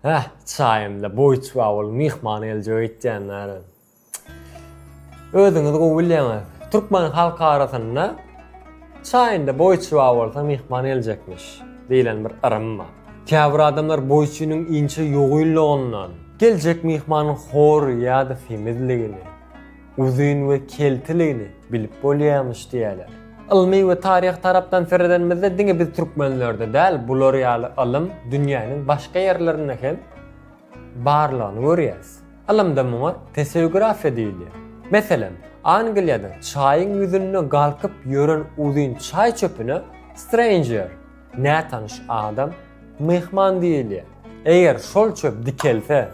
Heh, çaýymda boýçba bolup myhman geljek öýtýändirin. Özüňiz gowy bilýäňiz, türkmen halk arasynda Çaýynda boýçba bolsa myhman geljekmiş diýlen bir yrym bar. Käbir adamlar boýçynyň inçe ýogynlygyndan, geljek myhmanyň hor ýa-da semizligini, Uzyn we keltiligini bilip bolýamyş diýýäler. Ylmy we taryhy tarapdan seredenimizde diňe biz türkmenlerde däl bular ýaly ylym dünýäniň başga ýerlerinde hem barlygyny görýäs. Ylymda muňa teseografiýa diýilýär. Meselem, Angliýada çaýyň ýüzünde galkyp ýören uzyn çaý çöpüne stranger, Nätanyş adam myhman diýilýär. Eger şol çöp dikelse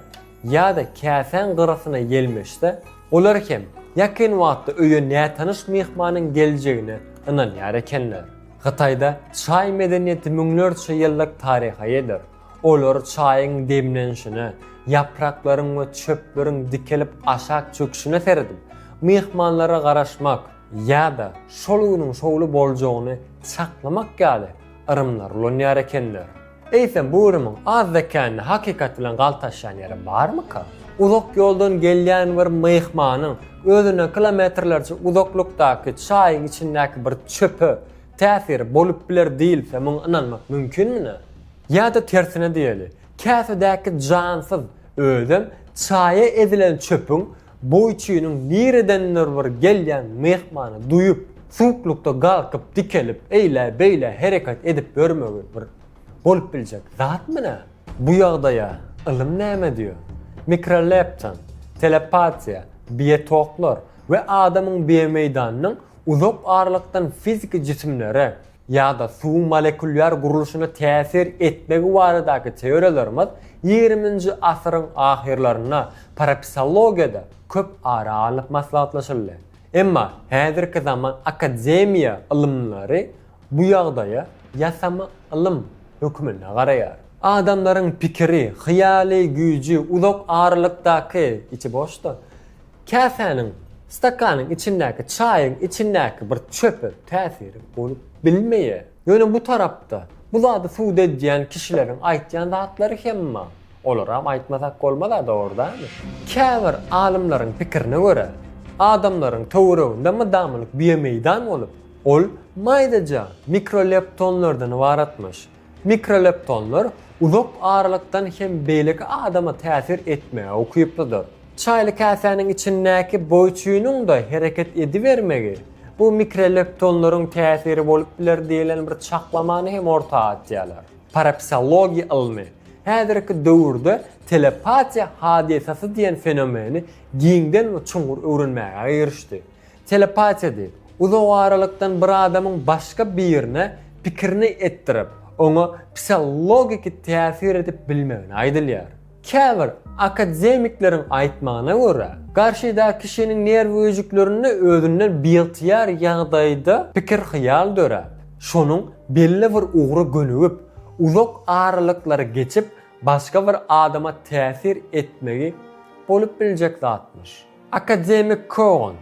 ýa-da käsäň gyrasyna ýelmeşse, olar hem ýakyn wagtda öýe nätanyş myhmanyň geljegine ynanýar ekenler. Hytaýda çaý medeniýeti müňlerçe ýyllyk taryha eýedir. Olar çaýyň demlenişine, ýapraklaryň we çöpleriň dikelip aşak çöküşine seredip, myhmanlara garaşmak, ýa-da şol günüň şowly boljagyny çaklamak ýaly yrymlar ulanýar ekenler. Eýsem bu yrymyň az zekäni hakykat bilen galtaşýan ýeri barmyka? Uzak ýoldan gelýän bir myhmanyň özünden kilometrlerçe uzaklykdaky çaýyň içindäki bir çöpe täsiri bolup biler diýilse muňa ynanmak mümkinmine? Ýa-da tersine diýeli, käsedäki jansyz özem çaýa ezilen çöpüň Boýçynyň niredendir bir gelýän myhmany duýup, suwuklykda galkyp, dikelip, eýlä-beýlä hereket edip ýörmegi bir bolup biljek zatmy nä? Bu ýagdaýa ylym näme diýýär? Mikroleptin, telepatiýa, biotoklar we adamyň biomeýdanynyň uzak aralykdan fiziki jisimlere, ýa-da suwuň molekulýar gurluşyna täsir etmegi baradaky teoriýalarymyz ýigriminji asyryň ahyrlarynda parapsihologiýada köp ara alnyp maslahatlaşyldy. Emma häzirki zaman akademiýa ylymlary bu ýagdaýa ýasama ylym hökmünde garaýar. Adamlaryň pikiri, hyýaly güýji uzak aralykdaky, içi boşda, Käsäniň, stakanyň içindäki çaýyň içindäki bir çöpe täsiri bolup bilmeýä. Ýöne bu tarapda, bu zady subut edýän kişileriň aýtýan zatlary hem bar. Olaram aýtmasak bolmaz-a, dogrudanmy? Käbir alymlaryň pikirine görä, adamlaryň töwereginde mydamlyk biomeýdan bolup, ol maýdaja mikroleptonlardan ybaratmyş. Mikroleptonlar uzak aralykdan hem beýleki adama täsir etmäge ukyplydyr. Çaýly käsäniň içindäki boýçynyň-da hereket edibermegi bu mikroleptonlaryň täsiri bolup biler diýlen bir çaklamany hem orta atýarlar. Parapsihologiýa ylmy häzirki döwürde telepatiýa hadysasy diýen fenomeni giňden we çuňňur öwrenmäge girişdi. Telepatiýady. Uzagaralykdan bir adamyň başga birine pikirini etdirip, oňa psiologiki täsir edip bilmegine aýdylýar. Käbir akademikleriň aýtmagyna görä, garşydaky kişiniň nerw öýjüklerinde özünden biygtyýar ýagdaýda pikir-hyýal döräp, şonuň belli bir ugry gönügip, uzak aralyklary geçip başga bir adama täsir etmegi bolup biljek zatmyş. Akademik Kogon,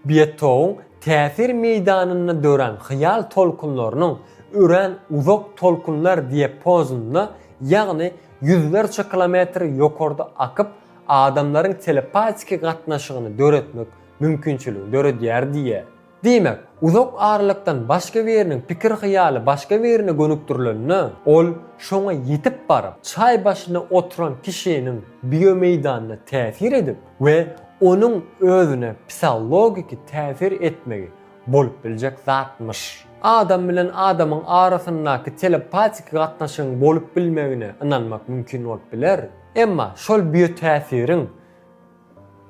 Betowyň täsir meýdanynda dörän hyýal tolkunlarynyň örän uzak tolkunlar diapazonynda, ýagny ýüzlerçe kilometr ýokarda akyp, adamlaryň telepatiki gatnaşygyny döretmek mümkinçiligini döredýär diýýär. Diýmek, uzak aralykdan başga biriniň pikir-hyýaly başga birine gönükdirilende, ol şoňa ýetip baryp, çaý başynda oturan kişiniň biomeýdanyna täsir edip we onuň özüne psihologiki täsir etmegi bolup biljek zatmyş. Adam bilen adamyň arasyndaky telepatiki gatnaşygyň bolup bilmegine ynanmak mümkin bolup biler, emma şol biotäsiriň,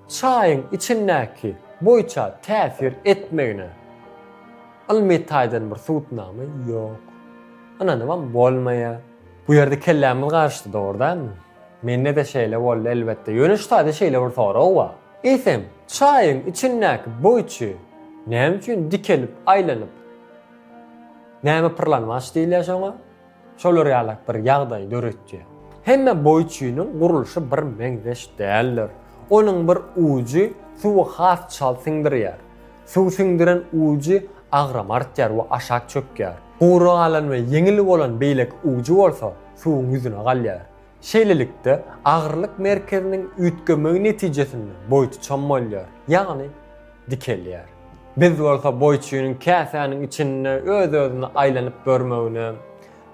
Çaýyň içindäki boýça täsir etmegine ylmy taýdan bir subutnama ýok. Ynanybam bolmaýar. Bu ýerde kellämiz garyşdy dogry dälmi? Mende-de şeýle boldy elbetde. Ýöne şu taýda şeýle bir sorag bar. Eýsem, çaýyň içindäki boýçy näme üçin dikelip aýlanyp, näme pyrlanmaç diýilýär şoňa? Şolar ýalak bir ýagdaýy döretýär. Hemme boýçynyň gurluşy bir meňzeş däldir. Onuň bir ujy suwy has çalt siňdirýär. Suw siňdiren ujy agram artýar we aşak çökýär. Gury galan we ýeňil bolan beýleki ujy bolsa suwuň ýüzüne galýar. Şeýlelikde, agyrylyk merkeziniň üýtgemegi netijesinde boýuty çom bolýar, ýagny dikelýär. Biz bolsa boýçynyň käsäniň içinde öz-özüne aýlanyp görmegine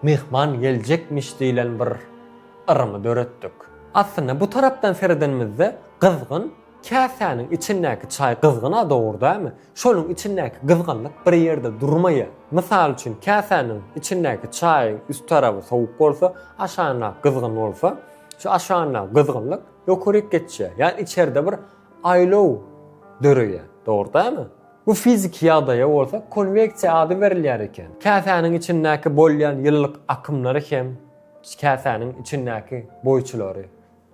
Myhman geljekmiş diýlen bir yrymy döretdik. Aslynda bu tarapdan seredenimizde gyzgyn Käsäniň içindäki çaý gyzgyn-a dogry dämi? Şonuň içindäki gyzgynlyk bir ýerde durmaýar. Mysal üçin, käsäniň içindäki çaýyň üst tarapy sowuk bolsa, aşagyndaky gyzgyn bolsa, şu aşagyndaky gyzgynlyk ýokaryk geçýär. Ýagny içerde bir aýlaw döreýär. Dogry dämi? Bu fiziki ýagdaýa bolsa konweksiýa ady berilýär eken. Käsäniň içindäki bolýan ýylylyk akymlary hem käsäniň içindäki boýçulary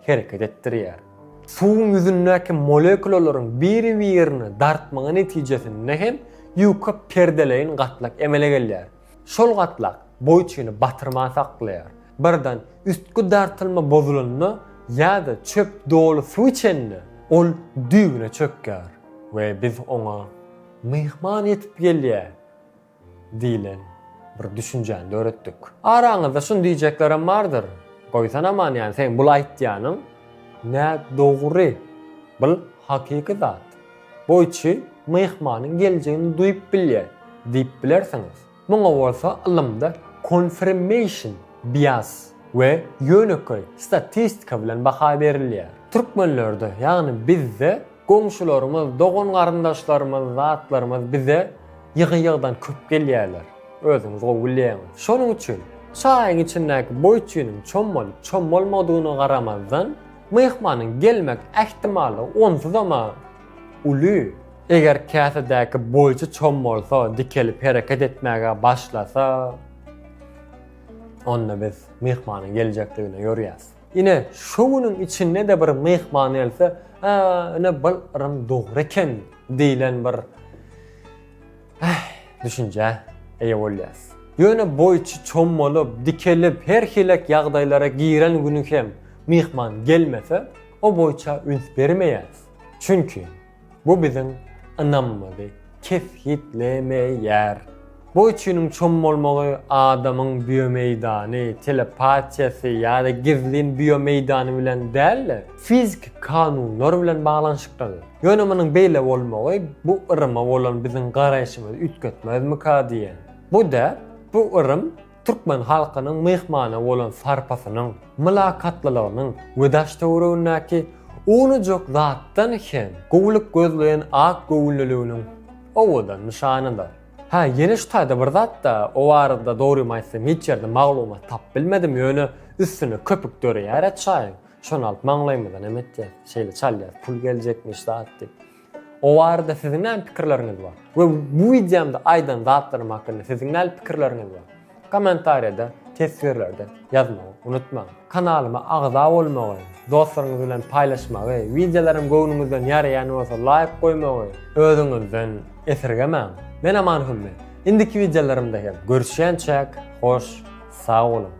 hereket etdirýär. Suwuň ýüzündäki molekulalaryň biri-birini dartmagy netijesinde hem ýuka perdeleýin gatlak emele gelýär. Şol gatlak boýçyny batyrman saklaýar. Birden üstki dartylma bozulanda ýa-da çöp doly suw içende, ol düýbüne çökýär we biz oňa Myhman ýetip gelýär! Diýlen bir düşünjäni döretdik. Araňyzda şuny diýjeklerem bardyr, Goýsan aman ýany seň bul aýtýanyň nä dogry, bul hakyky zat. Goýçy myhmanyň geljegini duýup bilýär diýip bilersiňiz. Muňa bolsa ylymda konfirmeýşn bias we ýönekeý statistika bilen baha berilýär. Türkmenlerde, ýagny bizde Goňşularymyz, dogan-garyndaşlarymyz, zatlarymyz bize ýygy-ýygydan köp gelýärler. Özüňiz gowy bilýäňiz. Şonuň üçin, çaýyň içindäki boý-çüýniň çom bolup, çom bolmadygyna garamazdan, myhmanyň gelmek ähtimallygy onsuzam-a uly. Eger käsedäki boýçy çom bolsa, dikelip hereket etmäge başlasa, onda biz myhmanyň geljekdigine ýörýäs. Ine, şo günüň içinde-de bir myhman gelse, Ä, ine bul yrym dogry eken diýlen bir Äh, düşünjä eýe bolýas. Ýöne boýçy çommalyp, dikelip, her hilek ýagdaýlara giren güni hem myhman gelmese, o boýça üns bermeýäs. Çünki, Bu biziň ynamymyzy kesgitlemeýär. Bu üçiniň çom bolmagy adamyň biomeýdany, telepatiýasy ýa-da gizlin biomeýdany bilen däl-de, fiziki kanunlar bilen baglanyşyklydyr. Ýöne munuň beýle bolmagy bu yryma bolan biziň garaýşymyzy üýtgetmezmika diýen. Bu däp, bu yrym türkmen halkynyň myhmana bolan sarpasynyň, mylakatlylygynyň we daş-töweregindäki unujyk zatdan hem gowulyk gözleýän ak göwünliliginiň owadan nyşanydyr. Hä, ýene şu taýda bir zat-da, o barada dogrymy aýtsam hiç ýerde maglumat tapyp bilmedim, ýöne üstüne köpük döreýär-ä çaýyň, şony alyp maňlaýymyza näme etýäs, şeýle çalýas, pul geljekmiş zat diýip. O barada siziň näme pikirleriňiz bar? We bu wideomda aýdan zatlarym hakynda siziň näme pikirleriňiz bar? Kommentariýada, teswirlerde ýazmagy unutmaň. Kanalyma agza bolmagy, dostlaryňyz bilen paýlaşmagy, wideolarym göwnüňizden ýaraýan bolsa laýk goýmagy özüňizden esirgemäň. Men Aman Hümmet. Indiki wideolarymda hem görüşýänçäk, hoş, sag boluň!